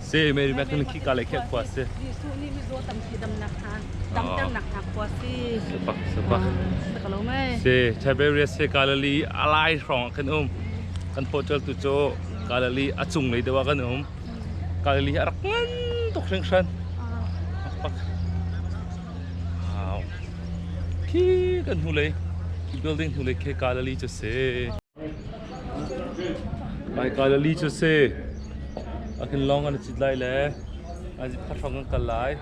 Seimei mekin khika le khek khua si. Jesuh nih mizaw tampi damnak hna damternak hna khua si. Supak supak. Sakalo mai. Si Tiberias se Galilee alai hrong kan um. Kan portal tu cho Galilee a chung lei dewa kan um. Galilee a rak ngan tuk hring hran. Pak. Wow. Khi kan hnu lei building hnu lei ke Galilee chu si. Galilee cu si. Akhin lawng an cit lai le an zipha hrawng an kal lai.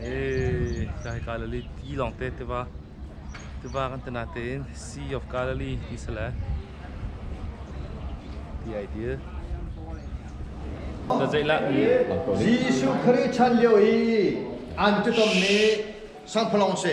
Eh, kai Galilee ti lawng te tiva tiva kan tena tein Sea of Galilee ti se le the idea. Ta zei la Jesuh Khrih chan lio i an tutom mi sangphalong si.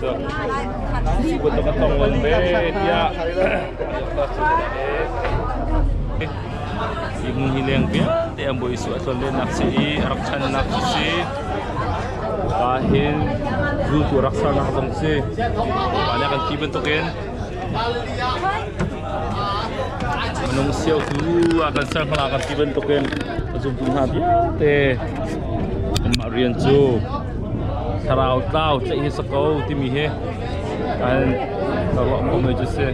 cun kut a ka tong ngol ve tiah Imu hi leng vialte an boi su a thlon lenak si i rak channak si pa hin zu tu rak sarnak zong si pa ne kan ti bantukin Minung siotu ah kan ser hmala kan ti bantukin a zumtu hna vialte amah rian cu thlarau tlau tlaih hi sako timi hi kan ka ruah ko mai cu si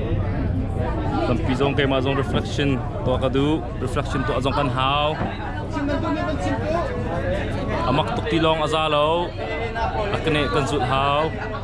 tampi zong keimah zong reflection tuah ka duh reflection tuah zong kan hau amak tuk ti lawng a za lo a kene kan zulh hau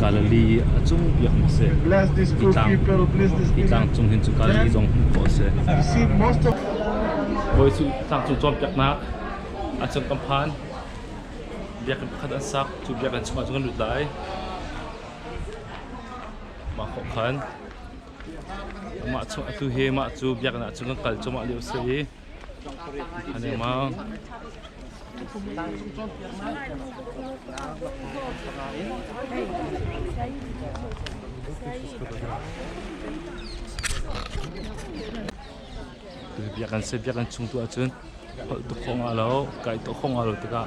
Galilee a cung biaknak a si. Hi tlang, hi tlang cung hin cu Galilee zong hmuh khawh a si. Bawi cu tlang cung cawnpiaknak a cung kan phan. Biakinn pakhat an sak. Cu biakinn chungah cun kan lut lai. Mah khawh khan. Mah chung atu hi mah cu biakinn ah cun kan kal cuahmah lio a si i biakinn chung tu ahcun holh tuk khawng ah lo kai tuk khawng ah lo tikah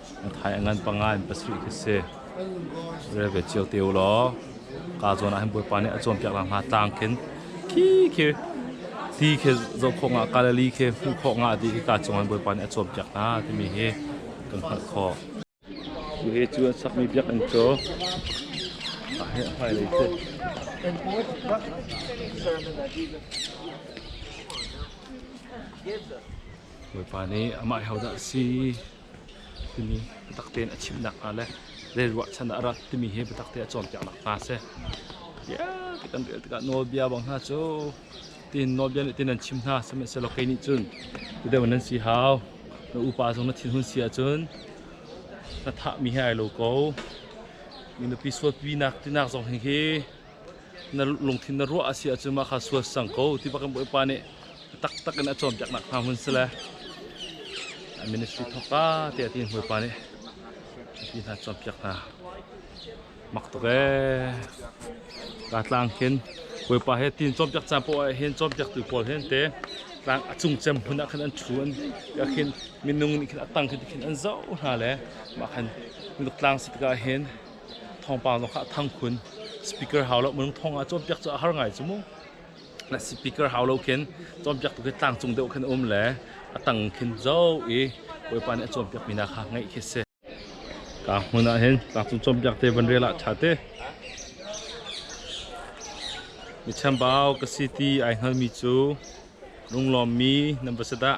Thai a ngan panga in pasarih khi si. Re ve cio te u law. Ka zawn ah hin Bawipa nih a cawnpiak la hnga tlang khin khi khi ti khi zoh khawh nga Galilee khi hmuh khawh nga ti khi ka cungah Bawipa nih a cawnpiak hna timi hi kan hngalh khawh. Cu he cu a sakmi biakinn cu a he a hmailei si. Bawipa nih amah hi hodah si timi biatak tein a chimnak hnga le zei ruahchan ah rat timi hi biatak te a cawnpiaknak hnga si. Bia ka kan rel tikah nawlbia bang hna cu tin nawlbia nih tin an chim hna sihmanhsehlaw kei nih cun tu deuh nan si hau na upa zong na thinhun si ahcun na thahmi hi ai lo ko mi nupi suatpinak tinak zong hi hi na lungthin na ruah a si ahcun mah kha sual sang ko ti bak in Bawipa nih taktak in a cawnpiaknak hna hun si le a ministry thawka tiah tiin Bawipa nih mipi hna cawnpiak hna mak tuk ee ka tlang hin Bawipa he tin cawnpiak caan poah ah hin cawnpiaktu pawl hin te tlang a cung cem hun ah khan an thu an ah khin minung nih khin a tang khin an zoh hna le mah khan minuk tlang si tikah hin thawngpang zong kha a thang khun speaker hau lo minung thong ah cawnpiak cu a har ngai cu mu na speaker hau lo khin cawnpiak tu khi tlangcung deuh khin um le a tang khin zo i bawipa nih a cawnpiak mi na kha ngaih khi si ka hmun ah hin tlangcung cawnpiak te van rel ah tha te mi chambau ka si ti ai hngal mi cu lunglawm mi nan va se dah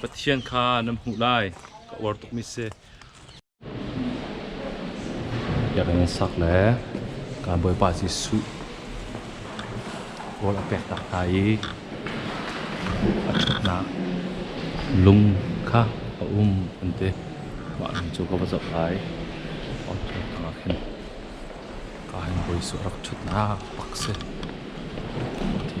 Pathian kha nan hmuh lai, ka uar tukmi si. Biakinn in sak le kan Bawipa Jesuh rawl a pek tak hna i a ṭhatnak lung kha a um an ti. Mah lung cu ka va zoh lai. Auto tangah khin ka hin Bawi Jesuh rak ṭhutnak pak si. Ti.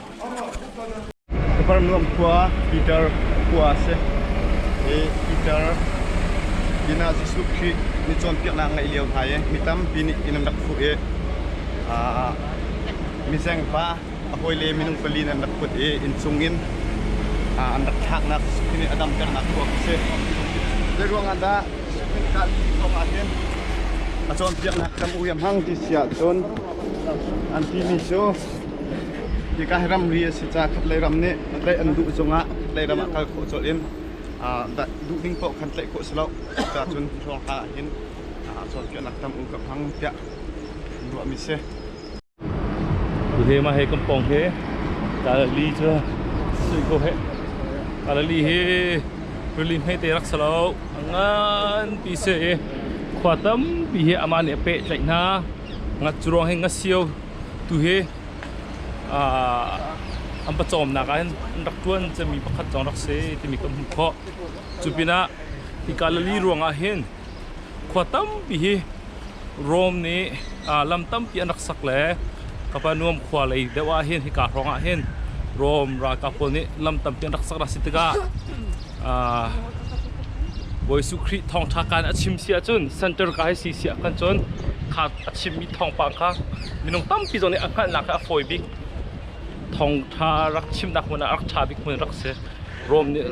Capernaum khua Peter khua a si. I Peter pinah Jesuh Khrih mi cawnpiaknak ngeih lio hna i mi tampi nih inn an rak fuh i mizeng pa a hawile minung pali in an rak put i inn chungin an rak thlaknak Jesuh Khrih nih a damternak tuak a si. Zei ruangah dah Jesuh Khrih kaa thawng ahhin a cawnpiaknak tam uiam hang ti si ahcun an timi cu Hika hi ramri a si caah khatlei ram nih tlaih an duh cungah khatlei ram ah kal khawh colh in duhning paoh khan tlaih khawh si lo. Cuka cun hrawng hla ahhin cawnpiaknak tam u ka hmang tiah ruahmi si. Tule mah he kampong he Galilee cu suih ko he Galilee hi rili hmete rak si lo ngan pi se i khua tampi hi amah nih a peh tlaih hna ngat curuang hin ngasio Tuhi an pawcawmnak ah hin an rak ṭuan cemmi pakhat zong rak si timi kan hmuh khawh. Cu pinah hi Galili ruangah hin khua tampi hi Rom nih lam tampi an rak sak le Kapernaum khua lei deuh ah hin hika hrawngah hin Rom ralkap pawl nih lam tampi an rak sak a si tikah Bawi Su Khrih thawngṭha kaan a chim si ahcun center ka hei si si ahkhan cun kha a chimmi thawngpang kha minung tampi zong nih a hngalhnak kha a fawi bik thawngṭha rak chimnak hmun ah rak ṭha bik hmun rak si Rome nih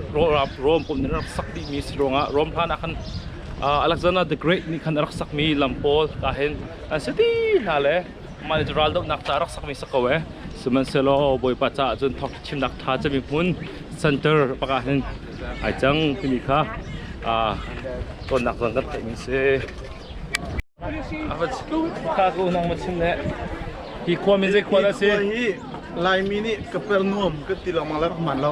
Rome pum nih rak sak dihmi si ruangah Rome hlan ah khan Alexander the Great nih khan a rak sakmi lam pawl ka hin an si ti hna le mal raldohnak ca rak sakmi sa ko e sihmanhsehlaw bawipa caah cun thawk thimnak tha cami hmun center pakah hin ai cang timi kha tonnak zong kan theihmi si Chicago nang ma chim ne hi khua mi zei khua da si Laimi nih ka per nuam ka ti lo ma la man lo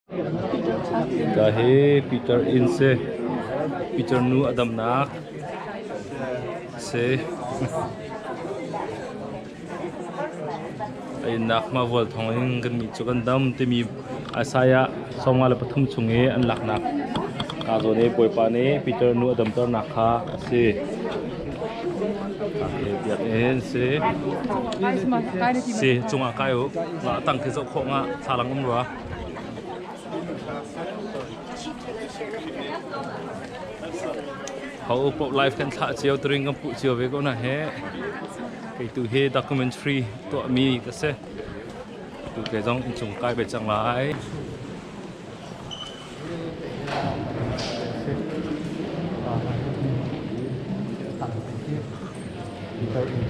Ka hi Peter inn si. Peter nu a damnak si. A innak hmavual thawng in kannih cu kan dam timi Isaiah sawmnga le pathum chung i an laknak kaa zawn i Bawipa nih Peter nu a damternak kha a si. Ka hi biakinn si. Si, cungah kai u. La tang khi zoh khawh nga, thalang um rua. Ho pop live kan thlah cio tring kan puh cio ve ko na he kei tu he documentary tuah mi ka se tu ke zong in chung kai be chang lai Thank you.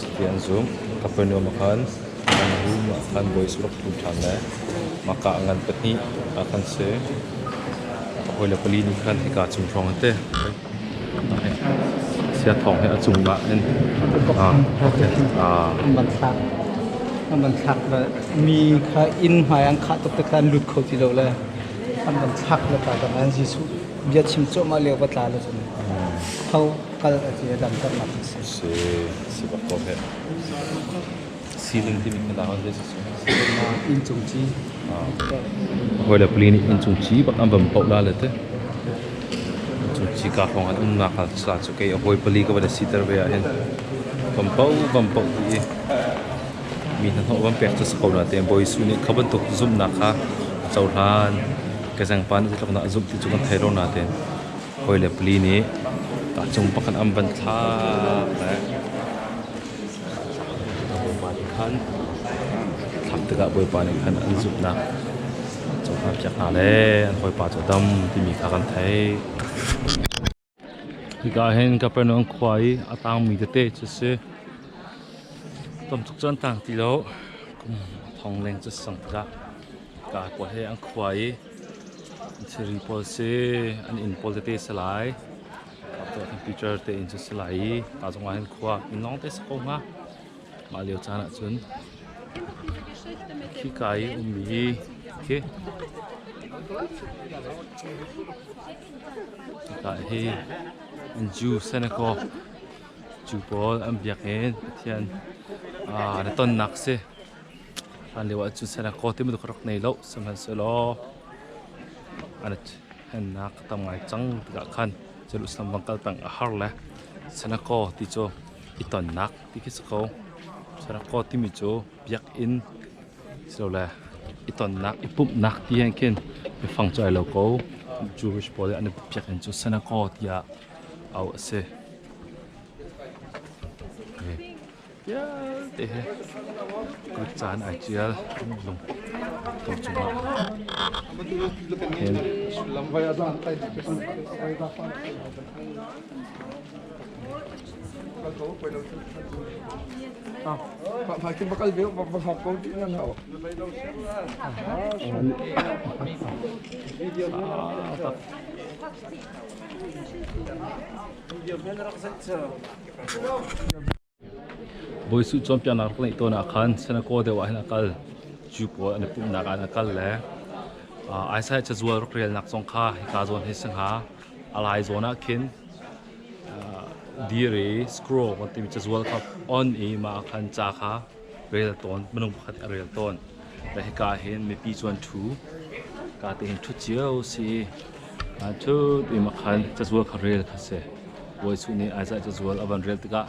Cuti an zumh. Ka fanu a khan an room ah khan bawi saruk thum ṭhan le mahka ngan pahnih aa khan si. Ka hawile pali nih khan hika cung hrawng an ti. Sia thawng hi a cung ah in an van thlak an van thlak le mi kha inn hmai an khah tuk te khan lut kho ti lo le an van thlak le ta dang an Jesuh bia chim cuahmah lio va tla le cun ho kal a ti i damternak a si. Si, si bak ko heh. Siling timi kha lak ah zeitik sung? Ah, inncung ci. Hawile pali nih inncung ci bak an van poh la le te. Inncung ci ka hawng an umnak hal sa cu kei a hawi pali ka van si ter ve ah hin. Van poh, van poh ti i mi hna hnawh van pek cu si ko na te bawi su nih kha bantuk zumnak kha a cohlan. Ka zangpa nih zeitluk na zumh ti cu kan thei lo na te. hawi le pali nih tahcung pakhat an van thlak le Bawipa nih khan thlah tikah Bawipa nih khan an zumhnak cu hna piak hna le an hawipa cu dam timi kha kan theih. Hika hin Capernaum khua i a tangmi tete cu si. Tamtuk cu an tang ti lo. Kum thong leng cu sang tikah ka khua he an khua i Thilri pawl si an inn pawl tete si lai. Teacher te inn cu si lai i pa zong ah hin khua inn lawng te si ko hnga. Mah lio caan ah cun khika i ummi khi khika hi in Jew Senegal Jew pawl an biak in Pathian na tonnak si Hlan lio ah cu Seraco ti bantuk ka rak nei lo, sihmanhsehlaw an hennak a tam ngai cang tikah khan Jerusalem bang kal peng a har le Seraco ti cu i tonnak ti khi si ko. Seraco timi cu biakinn silole i tonnak, i pumhnak tiang khin biafang cu ai lo ko. Jewish pawl nih an biakinn cu Seraco tiah auh a si. Okay. vialte he kut caan ai ṭial. Lung tu cungah Pak kim bakal be ba hop ko ti na na o. Ah, Bawi Suh cawnpiaknak rak ngeih tawn ah khan Synagogue deuh ah hin a kal. Jew pawl an i pumhnak ah an kal le Isaiah cazual rak relnak zong kha hika zawn hi si hnga. A lai zawn ah khin dir i scroll timi cazual kha on i mah ah khan ca kha rel tawn minung pakhat a rel tawn da hika hin mipi chuan thu ka te hin thu cio si a thu ti ma khan cazual kha rel kha se wai su ni aiza cazual avan rel tikah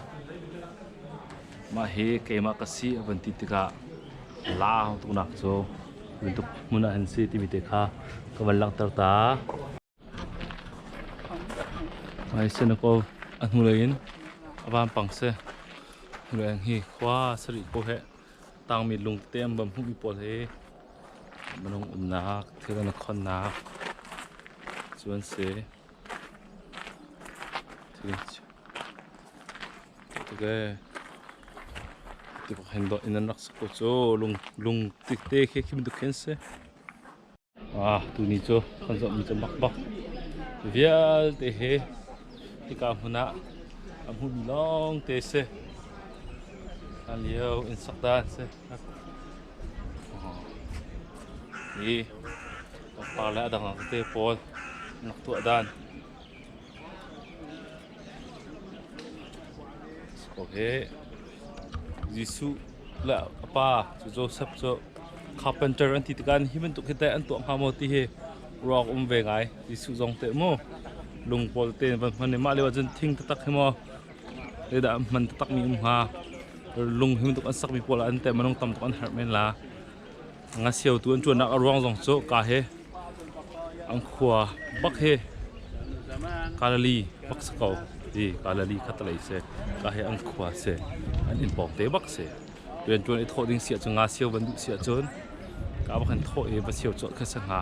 mah hi keimah ka si avan ti tikah la tunak cu tuntuk hmun ah an si timi te kha ka van langhter ta Singapore a hnulei in a vampang si. Hnulei hi khua sarih ko he tangmi lungte an bam hmuhmi pawl hi minung umnak, thil an khonnak cu an si. Tikok hen in an rak sak ko cu lung tikte khi khi bantuk khin si. Ah, tuni cu kan zawhmi cu makbak vialte he hika hmun ah a hmumi lawngte si hlan lio in sak dan si i pangpar le a dang dang te pawl an rak tuah dan Jesuh le a pa cu Josef cu carpenter an ti tikah hi bantuk hi teh an tuah hnga maw ti hi ruak um ve ngai Jesuh zong teh mu lung pawl te van hman i mah lio ahcun thing taktak hi maw dah hman taktak mi um hnga lung hi bantuk an sak mi pawl ah an teh manung tam tuk an herh men la Ngasiotu an chuannak a ruang zong cu ka he an khua bak he Kalali bak si ko ti Kalali khatalei se ka he an khua se an in pawng te bak se rian tuan i thawh ding sia cu nga sio van duh sia cun ka bak han thawh i va sio cawh khan sa nga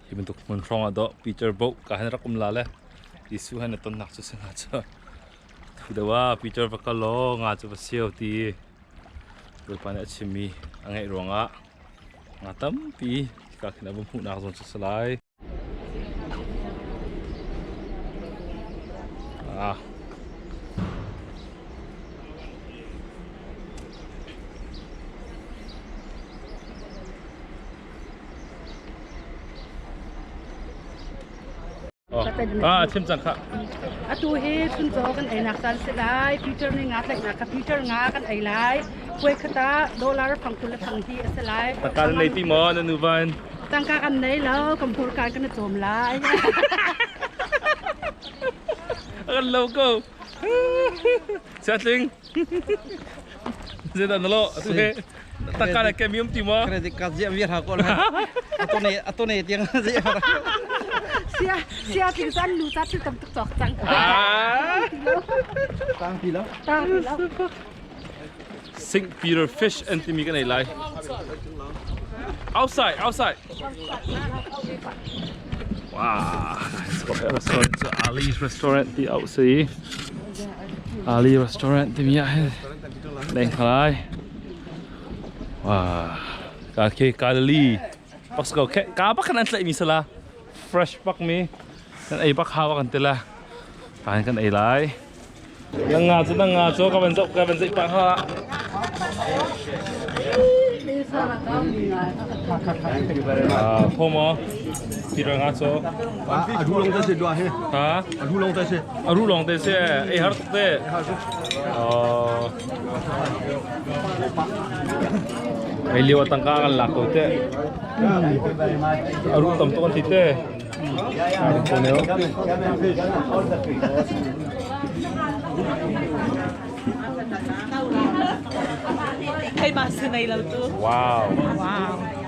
Hi bantuk hmun hrawng ah doh Peter boh ka han rak um la le Jesuh han tonnak cu si nga cu thu deuh ah Peter va kal law nga cu va siau ti Bawipa nih a chimmi a ngaih ruangah nga tampi ka khin a va hmuhnak zawn cu salai ah Atu hi chuncaw kan einak caan si lai. Future ni nga tlaih na ka future nga kan ei lai. Puai khata dollar phang tul thang hi a si lai. Takal nei ti mo na nu van. Tangka kan nei lo, kampur kan kan chom lai. Akan lo ko. Chatling. Zedan na lo atu he takka na ke mium ti mo credit card je vi ra ko la atone atone tiang je sia sia tin san lu ta thil tam tuk chok chang tang pi lo tang pi lo Sing Peter Fish and timi kan ei lai outside outside wow it's got a restaurant it's Ali's restaurant the outside Ali restaurant timi ah hin leng kha lai wah ka ke Galilee pak ko khe ka bak kan an tlai mi sala fresh pak mi kan ei bak hawa kan tela kan kan ei lai yang nga chu nang nga chu ka van zok ka van zai pa ha Ah, pomo, pirang aso, A ru lawng te si dua he. Ha? A ru lawng te si. A ru lawng te si. Ei har tuk te. Oh. Ei liu tangka kan lak ko te. A ru tam to kan thi te. A ru ko ne. Hey, mas nei lo tu. Wow. Wow.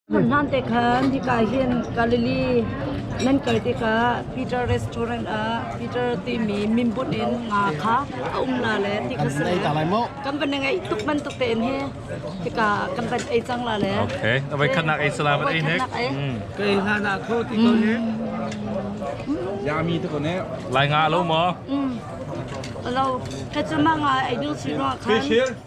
Hmun hlan te khan hika hin Galilee nan kal tikah Peter restaurant ah Peter timi mimbunh in nga kha a um la le ti kha si le kan van ngei tuk bantuk tein hi hika kan van ei cang la le okay avai khanak ei salam an ei nek ka ei hlan ah kho ti ko ne yami to ko ne lai nga lo mo lo ka chama nga ei ding si ro khan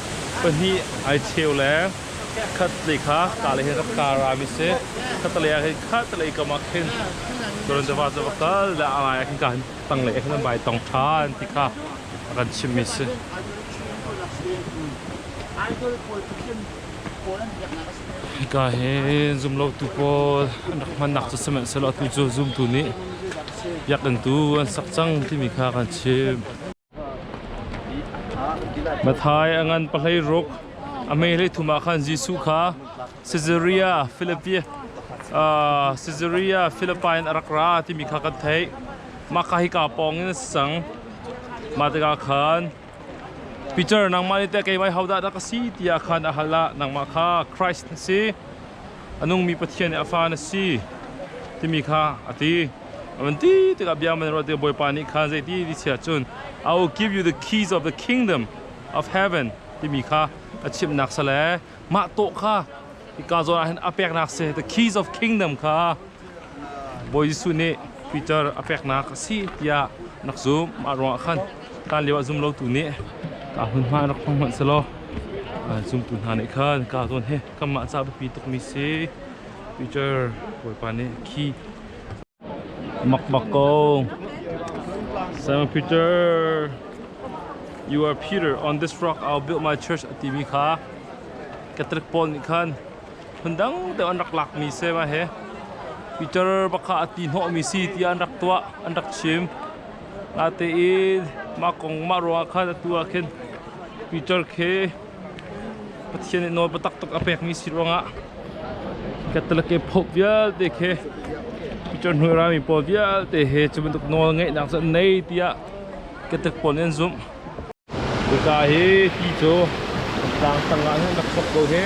Pahnih ai cheu le khatlei kha kalei he kan kar ami si khatlei ah hin khatlei kam ah khin turan tefa cu va kal le a ngai ah khin ka han tang le khin vai tong ṭhan ti kha a kan chimmi si idol pawl Pathian pawl an biaknak a si hika hi zumlotu pawl an rak hmannak cu sihmanhsehlaw atu cu zumtu nih biakinn tu an sak cang timi kha kan chim Mathai a ngan pahlei ruk a mehlei thum ah khan Jesuh kha Caesarea Philippi Caesarea Philippi in a rak ra timi kha kan theih. Mah ka hika pawng in a si cang. Mah tikah khan Peter nangmah nih teh keimah hodah dah ka si tiah khan a hal ah nangmah kha Christ na si. a nungmi Pathian nih a fa na si timi kha a ti. A van ti tikah bia man ruah tikah Bawipa nih khan zei ti ti chiah cun I will give you the keys of the kingdom of heaven timi kha a chimhnak sale mah taw kha hika zawn ah hin a peknak si the keys of kingdom kha Bawi Jesuh nih Piter a peknak a si tiah nak zumh. Mah ruangah khan hlan lioah zumlotu nih kaa hmunhma in rak hmang hmanh selaw zumtu hna nih khan kaa zawn hi kanmah caah biapi tukmi si. Piter Bawipa nih khi makmak ko. Simon Peter, you are Peter. On this rock I'll build my church a timi kha Catholic pawl nih khan phundang deuh an rak lakmi sema he Peter bakha a ti hnawhmi si tiah an rak tuah an rak chim natein mah kong mah ruangah khan atu ah khin Peter khi Pathian nih nawl biatak tuk a pekmi si ruangah Catholic e pope vialte khi Peter hnuirami pawl vialte he cu bantuk nawl ngeihnak cu an nei tiah Catholic pawl nih an zumh Hika hi ti cu tlangtang ah hin rak chok ko hi.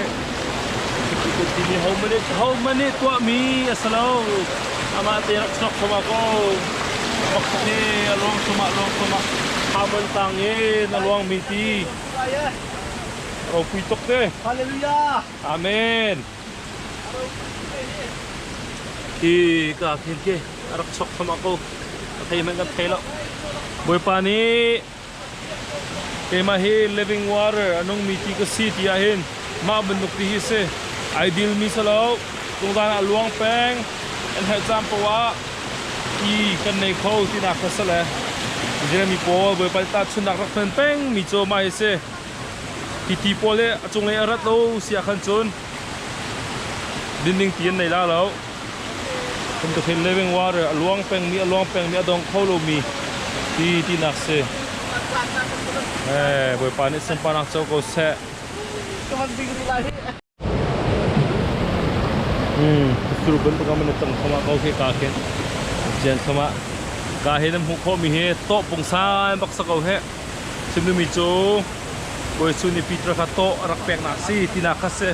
Timi hohmanh nih tuahmi a si lo. Amah te rak chok hram ah ko. Pakhat nih a lawng hram ah, lawng hram ah. Harmon tang in a luangmi ti. Ropui tuk te. Hallelujah. Amen. Hi ka khin khi a rak chok hram ah ko. A thei hmanh kan thei lo. Bawipa nih Keimah hi living water a nungmi ti ka si ti ahhin mah bantuk ti hi si ideal mi si lo. Tungdan ah luang peng an herh caan poah i kan nei kho tinak kha si le Jeremy pawl Bawipa nih tahchunhnak rak hman peng mi cu mah hi si hiti pawl hi a cunglei a rat lo si ahkhan cun dinding ti an nei la lo. Phunkathil Living Water a luang pengmi a luang pengmi a dong kho lomi ti tinak si. Eh, Bawipa nih sunparnak co ko seh. Hmm, thur bantuk ah mana tang thoma ko khi ka khin. Jen thoma. Ka hi nan hmuh khomi hi to pungsan baksa ko he. Chimlumi cu Bawi Suni Peter kha to a rak pek nak si tinak kha si.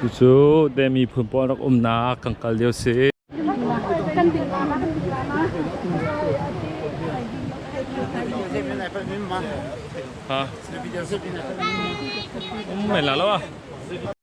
Cucu deh miphun pawl rak umnak kan kal lio si. Ha. Um mai la lo ah.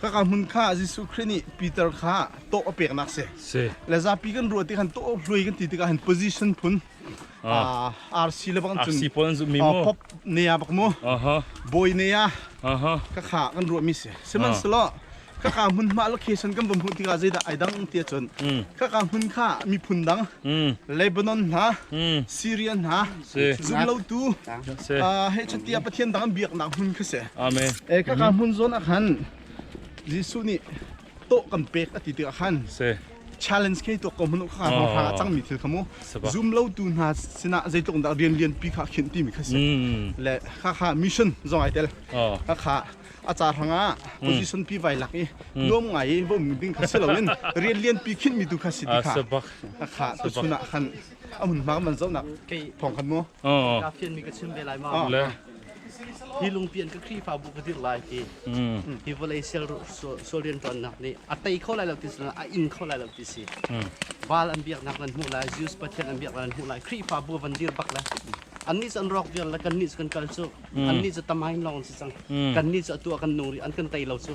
Kaka hmun kha Jesuh Khrih nih Peter kha tawh a peknak si. Si. Le zapi kan ruah ti khan tawh hlui kan ti tikah han position phun ah RC le bang cun RC pawl an zumh mi mu. pop ne a bak mu Aha. bawi ne a Aha. kaka kan ruah mi si sihmanhselaw kaka hmun hma location kan va hmuh tikah zeidah ai dang tiah cun kaka hmun kha miphun dang Lebanon hna Syrian hna zumlotu heicatiah pathian dang an biaknak hmun kha si amen e kaka hmun zawn ah khan jesuh nih to kan pek a ti tikah khan challenge ke to ko manu kha ma fa changmi thil khamu zoom lo tu hna sinah zeitluk dah rian lian pi kha khin ti mi kha si le kha kha mission zong ai tel kha kha acar hanga position pi vai lak i nuam ngai i bom ding kha si lo in rian lian pi khin mi tu kha si ti kha kha tu chunah khan a hmun hma man zohnak thawng khan mu ka fian mi ka chim ve lai ma le hi lungpi an ka khrihfabu ka dir lai ti hi vawlei sial sual rian ṭuannak nih a tei kho lai lo ti si a in kho lai lo ti si val an biaknak nan hmuh lai Jews pathian an biak nan hmuh lai khrihfabu van dir bak le annih cu an rawk vial le kannih cu kan kal cu annih cu tamai lawng si cang kannih cu a tua kan nung rih an kan tei lo cu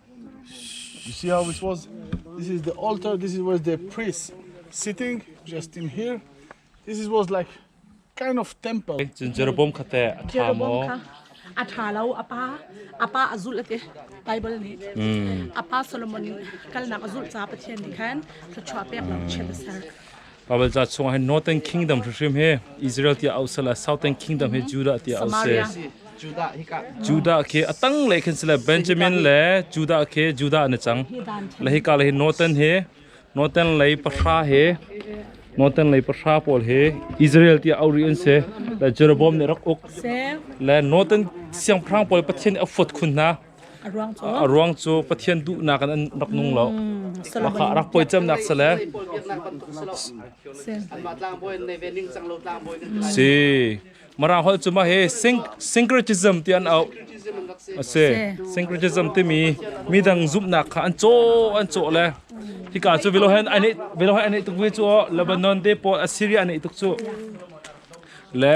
You see how it was? This is the altar. This is where the priest sitting, just in here. This is was like kind of temple. Chin Jeroboam khate a tha mo. A tha lo apa apa azul ate Bible ni apa Solomon kalnak azul cha pathian ni khan thluchwa pek lo chem sar Pavelca chungah hin Northern Kingdom hrimhrim hi Israel tiah ausal a Southern Kingdom hi Judah tiah ausal Judah khi a tang le khin sile Benjamin le Judah khi Judah an cang le hika le hi Northern hi Northern lei pahra hi Northern lei pahra pawl hi Israel tiah auri an si le Jeroboam nih rak uk le Northern siangpahrang pawl Pathian a fuat khun hna A ruang cu Pathian duhnak in an rak nung lo. Lahah rak poi cemnak sale si Marang holh cu mah hi syncretism ti an auh a si syncretism timi midang zumhnak kha an caw an caw le hika cu velo hen ai neih velo hen ai neih tuk ve cu Lebanon te pawl Assyria ai neih tuk cu le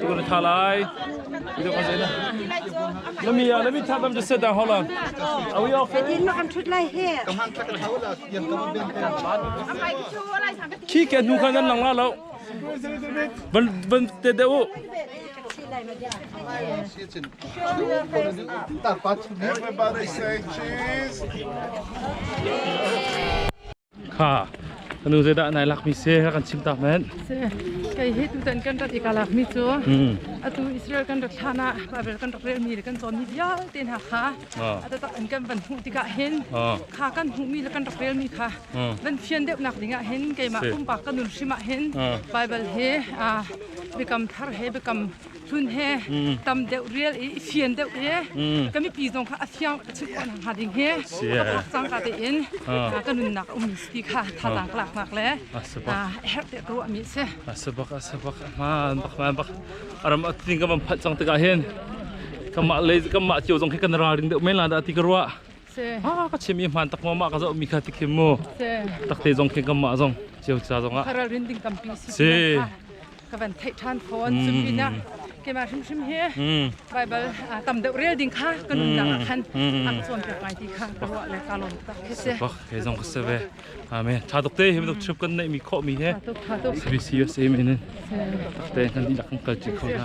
Tuan tha lai. Video kan zeina. Nami ya nami tha dam just da hola. Are we okay? Din ma kan thut lai he. Khi ke nu kan nan lang la lo. Ban ban te de u. Cheese. kha kanu zeidah nai lakmi se ka kan chim tak men se kai hi tu tan kan rat ika lakmi chu atu Israel kan rak thlan ah Babel kan rak rel mi le kan chon mi vialte hna kha ata tak an kan van hmuh tikah hin kha kan hmuh mi le kan rak rel mi kha van phian deuh nak dingah hin keimah pumpak kanun hrimah hin Bible he biakam thar he biakam hlun he tam deuh rial i fian deuh i ka mipi zong kha a fiang a chim khawh hnga ding hi cangka tein ka nunnak ummi si ti kha thazaang ka laknak le a herh te ka ruahmi a si. A si bak a si bak a hmaan bak hmaan bak a ram a tling ka van phat cang tikah hin kanmah le kanmah cio zong khi kan ralring deuh men la dah ti ka ruah a ka chim i hmaan tak ma ma ka zoh mi kha ti kim mu takte zong khi kanmah zong cio ca zong ah si ka van theih ṭhan fawn. Cu pinah keimah hrimhrim hi Baibal tam deuh rel ding kha ka nunnak ah khan a ka cawnpiak ngai ti kha ka ruah le ka lawm tak hi si. Bak he zong ka se ve. Amen. Tha tuk te hi bantuk trip kan neihmi khawhmi hi service a si men in tak te nan dihlak kan kal ṭi kho hna.